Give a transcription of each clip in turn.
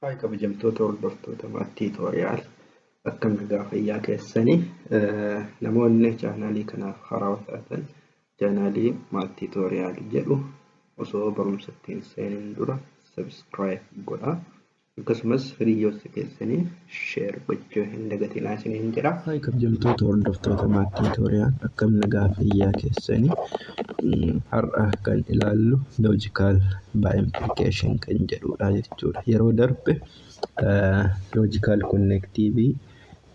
Haay kabajamtoota hordoftoota maat tiitoriyaal akkam nagaa fayyaa keessanii namoonni chaanaalii kanaaf haaraa taatan chaanaalii maat tiitoriyaal jedhu osoo barumsa ittiin seenuun dura sabiskiraayib godhaa akkasumas hiriyoota keessanii share gochuu hin dagatinaa isiniin jedha. Haay kabjamtoota hordoftoota maattii tooriyaan akkam nagaa fayyaa keessanii Mm, har'a kan ilaallu logical by implication kan jedhudha jechuudha. Yeroo darbe eh, logical connectivity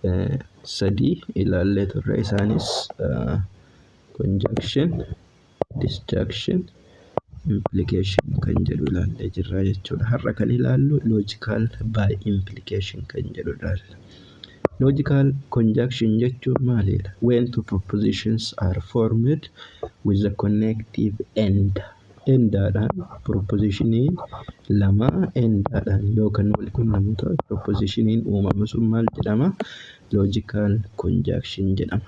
eh, sadii ilaallee turre isaanis eh, conjunction disjunction implication kan jedhu ilaallee jirra jechuudha. Har'a kan ilaallu logical by implication kan jedhu ilaalla. Logical conjunction jechuun maalidha? When two propositions are formed with the connective end. Endaadhaan propositionii lama endaadhaan yoo kan wal quunnamu ta'e propositioniin uumamu sun maal jedhama? Logical conjunction jedhama.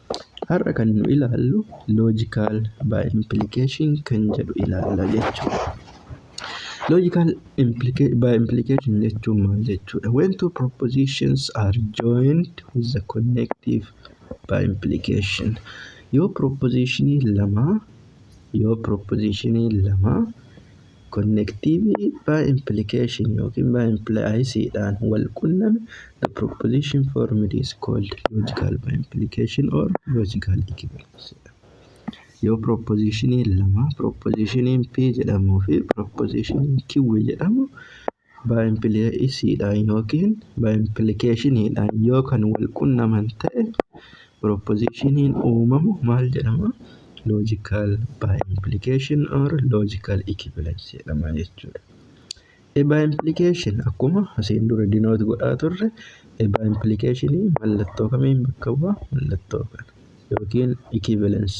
Har'a kan nu ilaallu logical by implication kan jedhu ilaalla jechuudha. Logical implica- by implication jechuun maal jechuudha? When two propositions are joined with the connective by implication. Yoo propositionii lama yoo propositionii lama Konnektiivii by implication ykn by implies dhaan wal qunname the proposition formed is called logical by implication or logical equivalence jedhama. Yoo proposition lama proposition P jedhamuu fi proposition Q jedhamu by implication dhaan yookiin by implication dhaan yoo kan wal qunnaman ta'e proposition uumamu maal jedhama logical by implication or logical equivalence jedhama jechuudha. A by implication akkuma asiin dura denote godhaa turre A by implication mallattoo kamiin bakka bu'a mallattoo kana yookiin equivalence.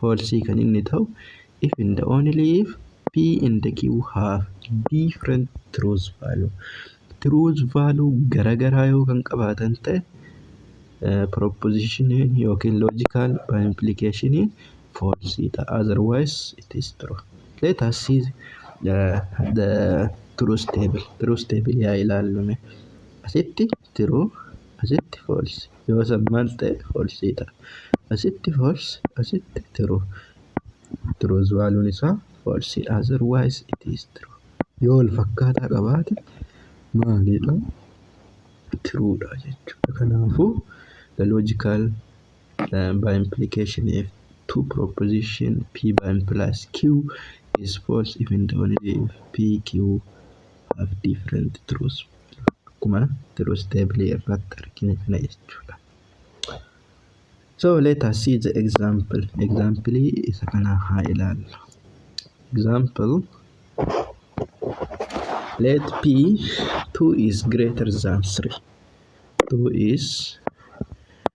false kan inni ta'u if and only if p and q have different truth value truth value garagaraa yoo kan qabaatan ta'e proposition yookiin logical by implication false ta'a otherwise it is true let us see uh, the truth table truth table yaa ilaallume asitti true asitti false yoo san maal ta'e false ta'a asitti false asitti true truth valuun isaa false dha otherwise it is true yoo wal fakkaataa qabaate maalidha true dha jechuudha kanaafuu the logical uh, by implication if two proposition p by implies q is false even though p q of different truths akkuma truth table irratti argine kana jechuudha. So let us see the example. Example isa kana haa ilaallu. Example let p 2 is greater than 3. 2 is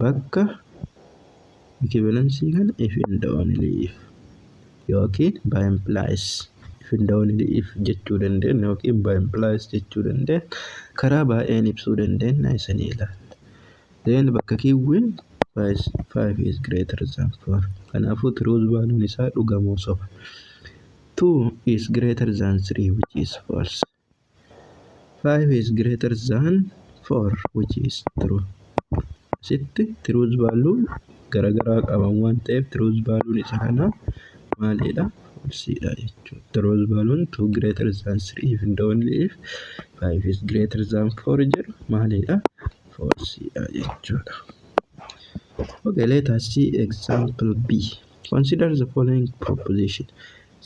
bakka equivalency kana if and only if yookiin by implies if and only if jechuu dandeenya yookiin by implies jechuu dandeenya karaa baay'een ibsuu dandeenya isanii ilaalla. Then bakka kiwwiin 5 is greater than 4 kanaafuu truth value isaa dhugamoo soba 2 is greater than 3 which is false. 5 is greater than 4 which is true asitti truth value garagaraa qaban waan ta'eef truth value isa kana maalidha falsiidha jechuudha truth value 2 greater than 3 if and only if 5 is greater than 4 jedhu maalidha falsiidha jechuudha okay let us see example b consider the following proposition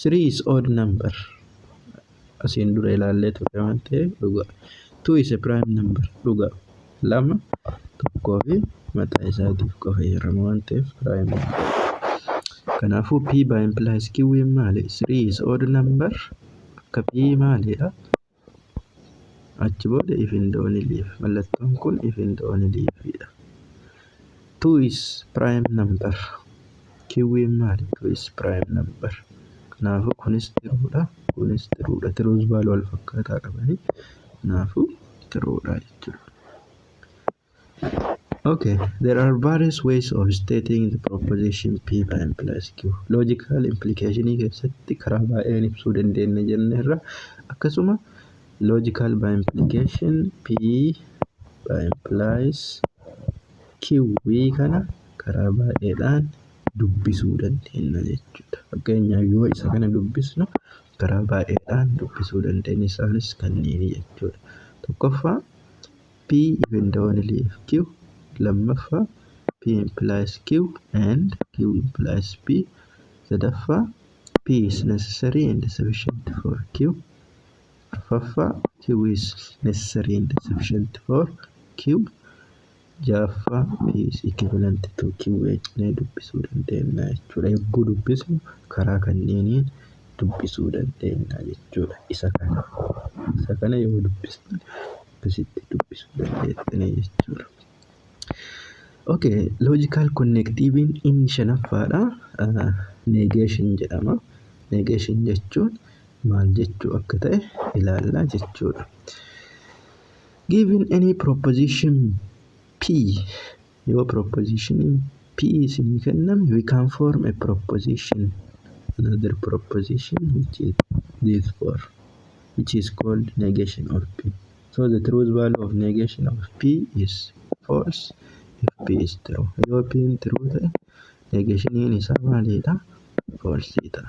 3 is odd number asiin dura ilaallee turre waan ta'eef dhugaa. Two is a prime number dhugaa. Lama tokkoo fi mataa isaatiif qofa heerama waan ta'eef prime number. Kanaafuu P by implies Q in maali? 3 is odd number akka P maaliidha? Achi booda if in the only if. Mallattoon kun if in the only if dha. 2 is prime number kiwwiin maali 2 is prime number kanaafuu kunis tiruudha kunis tiruudha tiruus baaluu wal fakkaataa qabanii kanaafuu tiruudha jechuudha. Okay, there are various ways of stating the proposition p prime plus q. Logical implication keessatti karaa baay'een ibsuu dandeenya jenneerra. Akkasuma logical by implication p by implies q QB kana karaa baay'eedhaan dubbisuu dandeenya jechuudha. Fakkeenyaaf yoo isa kana dubbisnu karaa baay'eedhaan dubbisuu dandeenya. Isaanis kanneen jechuudha. Tokkoffaa P even the one leaf Q lammaffaa P implies Q and Q implies P sadaffaa P is necessary and sufficient for Q Arfaffaa Q is necessary and sufficient for Q. Ja'affaa P is equivalent to Q jennee dubbisuu dandeenya jechuudha. Yogguu dubbisnu karaa kanneeniin dubbisuu dandeenya jechuudha. Isa kana isa kana yoo dubbisne akkasitti dubbisuu dandeenya jechuudha. Okay, logical connectiviin inni shanaffaadha. Negation jedhama. Negation jechuun maal jechuu akka ta'e ilaallaa jechuudha. Given any proposition P yoo proposition P isinii kenname we can form a proposition another proposition which is this for which is called negation of P. So the truth value of negation of P is false if P is true. Yoo P true ta'e negationiin isaa maalidha? False ta'a.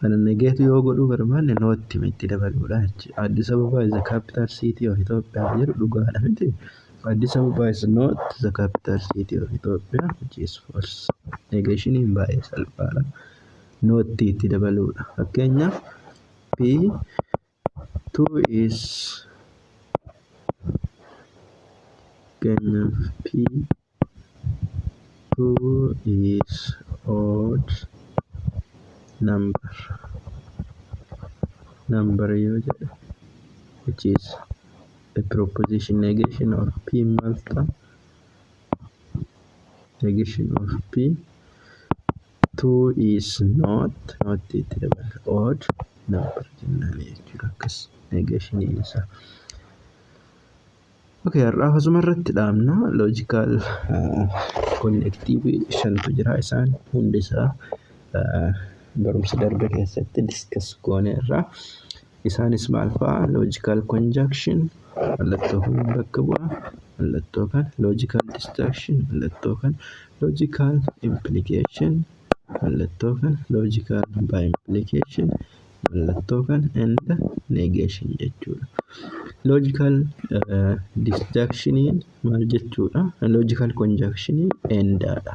kana negeetu yoo godhuu barbaanne nootti mitti dabaluudha jechi Addis Ababa is the capital city of Ethiopia jedhu dhugaadha miti Addis Ababa is not the capital city of Ethiopia which is false negeeshiniin baay'ee salphaadha nootti itti dabaluudha fakkeenyaaf P Two is kennaf P two is odd number number yoo jedhe which is a proposition negation of P maal ta'a negation of p 2 is not not itti dabala odd number jennaan jechuudha akkas negation isa ok har'aaf asuma irratti dhaabna logical connective shantu jira isaan hundi isaa barumsa darbe keessatti diskas goone irraa Isaanis maal fa'a? Logical conjunction mallattoo kana bakka bu'a. Mallattoo kana logical disjunction mallattoo kana logical implication mallattoo kana logical by implication mallattoo kana and negation jechuudha. Logical uh, disjunctioniin maal jechuudha? Logical conjunctioniin endaadha.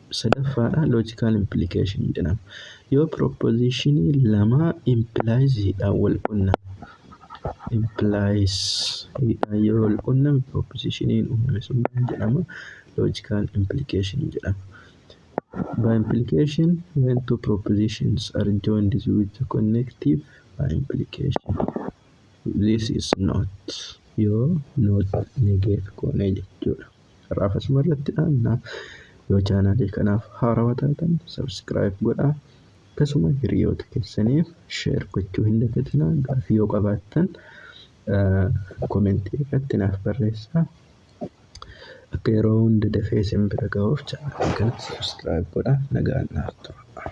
sadaffaadha logical implication jedhama. Yoo propositionii lama implies hidhaan wal qunname. Implies hidhaan yoo wal qunname propositioniin uumame sun maal jedhama? Logical implication jedhama. By implication, when two propositions are joined with a connective by implication. This is not yoo not negate goone jechuudha. Har'aaf asuma irratti dhaabna. Yoo chaanaalii kanaaf haarawa taatan sabskiraayib godhaa. Akkasuma hiriyoota keessaniif sheer gochuu hin dagatinaa. Gaaffii yoo qabaattan komentii irratti naaf barreessaa. Akka yeroo hunda dafee isin bira ga'uuf chaanaalii kana sabskiraayib godhaa. Nagaan naaf tura.